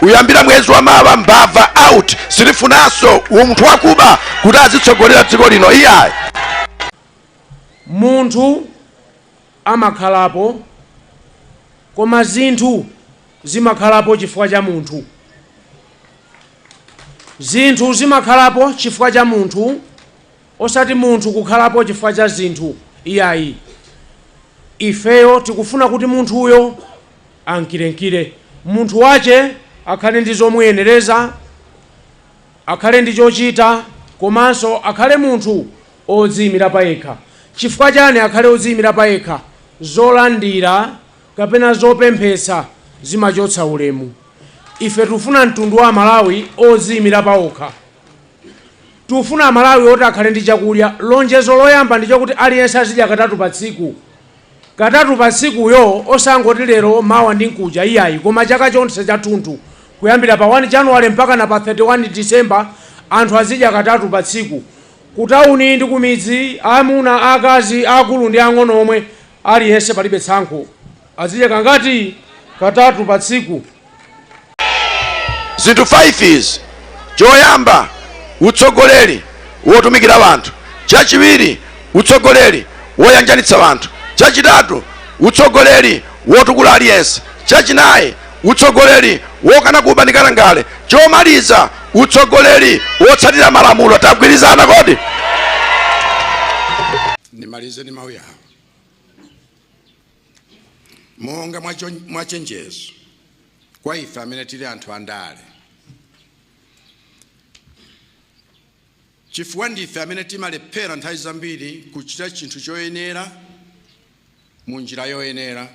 kuyambira mwezi wa mawa mbava out sitifunanso munthu wakuba kuti azitsogolera dziko lino iyayi munthu amakhalapo koma zinthu zimakhalapo chifukwa cha munthu zinthu zimakhalapo chifukwa cha munthu Osati munthu kukhalapo chifukwa cha zinthu, iyayi. Ifeyo tikufuna kuti munthuyo ankirenkire umunthu wache, akhale ndi zomuyenereza, akhale ndi chochita komanso akhale munthu odziimira payekha. Chifukwa chani akhale odziimira payekha? Zolandira kapena zopemphetsa zimachotsa ulemu. Ife tikufuna mtundu wa Amalawi odziimira paokha. Tikufuna Amalawi oti akhale ndi chakudya. Lonjezo loyamba ndi chokuti aliyense azidya katatu pa tsiku. Katatu pa tsikuyo osangoti lero, mawa ndi mkuja iyayi koma chaka chonse chathunthu kuyambira pa 1 January mpakana pa 31 December anthu azidya katatu pa tsiku ku tauni ndi ku midzi, amuna, akazi, aakulu ndi aang'ono omwe, aliyense palibe tsankho. Azidya kangati? Katatu pa tsiku. zinthu 5 izi choyamba utsogoleri wotumikira wanthu chachiwiri utsogoleri woyanjanitsa wanthu chachitatu utsogoleri wotukula aliyense chachinayi utsogoleri wokana kuba ndi katangale chomaliza utsogoleri wotsatira malamulo tagwirizana kodi ndimalize ndi mawu awa Monga mwa chenjezo kwa ife amene tili anthu andale, chifukwa ndife amene timalephera nthawi zambiri kuchita chinthu choyenera mu njira yoyenera,